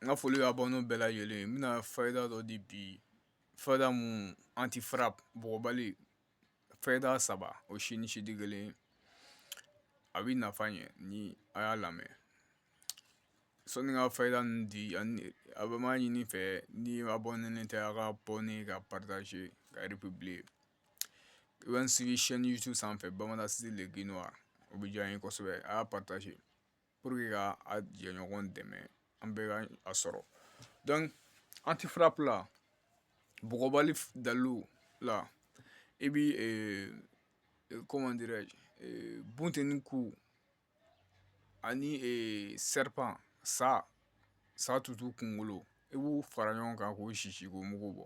N ka foli b'abonnéw bɛɛ lajɛlen ye n bɛna fayida dɔ di bi fayida mun anti frappe bɔgɔbali fayida saba o si ni si tɛ kelen ye a bɛ nafa ɲɛ ni a y'a lamɛn sɔni n ka fayida ninnu di ani a bɛ m'a ɲini fɛ ni abonnénen tɛ a ka abonné ka partager ka Bɛ n sigi chaîne YouTube sanfɛ Bamada City le guide noir o bɛ diya n ye kosɛbɛ a y'a partager pour que ka a jɛɲɔgɔn dɛmɛ an bɛɛ ka a sɔrɔ donc anti frappe la bɔgɔbali dalilu la i bɛ comment bunteni ku ani serpent sa tutu kunkolo i b'u fara ɲɔgɔn kan k'o sisi k'o mugu bɔ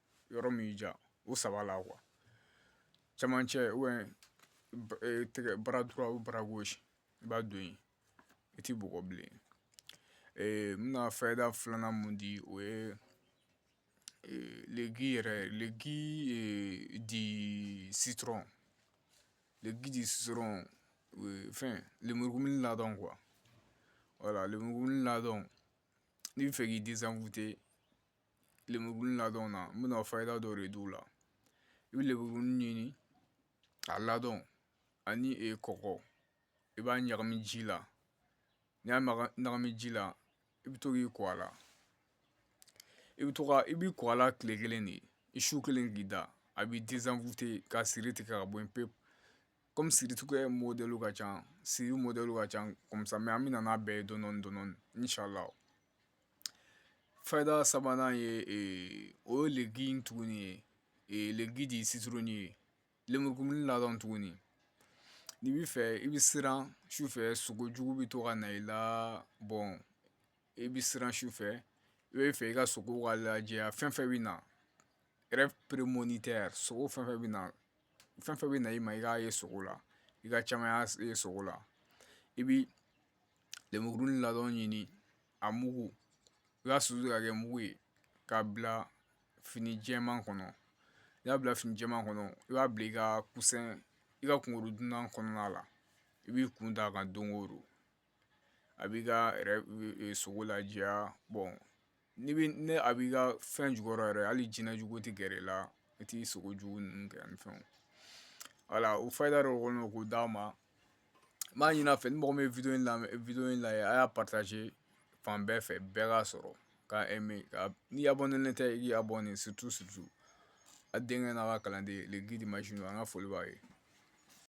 yɔrɔ min ja o saba la qu camancɛ tɛgɛ bara dɔrɔn bara gosi i b'a don yen i tɛ bɔgɔ bilen n bɛna fɛda filanan mun di o ye leki yɛrɛ leki di si dɔrɔn leki di si dɔrɔn fɛn lemurukuni ladɔn qu wala lemurukuni ladɔn n bɛ fɛ k'i dɛsɛsɛn fute lemuru ladɔn na n bɛna fayida dɔ de d'u la i bɛ lemuru ɲini a ladɔn ani e kɔgɔ i b'a ɲagami ji la n'i y'a ɲagami ji la i bɛ to k'i ko a la i bɛ to i b'i ko a la tile kelen de ye i su kelen k'i da a b'i désenvoûter ka siri tigɛ ka bɔ yen pewu kɔmi siritigɛ modèle ka ca siri modèle ka ca comme ça mais an bɛ na n'a bɛɛ ye dɔɔni dɔɔni inshallah Fayida sabanan ye o ye le gui in tuguni ye le gui de citron ye lemurukumuni ladɔn tuguni n'i b'a fɛ i bɛ siran su fɛ sogo jugu bɛ to ka na i la bon i bɛ siran su fɛ i bɛ fɛ i ka sogo ka lajɛya fɛn fɛn bɛ na rêve prémonitoire sogo fɛn fɛn bɛ na fɛn fɛn bɛ na i ma i k'a ye sogo la i k'a caman ye sogo la i bɛ lenburu ladɔn ɲini a mugu i b'a susu ka kɛ mugu ye k'a bila fini jɛman kɔnɔ n'i y'a bila fini jɛman kɔnɔ i b'a bila i ka coussin i ka kunkɔrɔdonnan kɔnɔna la i b'i kun d'a kan don o don a b'i ka sogo lajɛya bon ni a b'i ka fɛn jukɔrɔ yɛrɛ hali jinɛ jugu tɛ gɛrɛ i la i t'i sogo jugu ninnu kɛ ani fɛnw voilà o fayida dɔ kɔni k'o d'a ma m'a ɲin'a fɛ ni mɔgɔ min ye in lamɛn in lajɛ a y'a fan bɛɛ fɛ bɛɛ k'a sɔrɔ k'a ka n'i y'a bɔ ni ne tɛ i k'i y'a bɔ ni a denkɛ n'a ka kalanden an ka foli b'a ye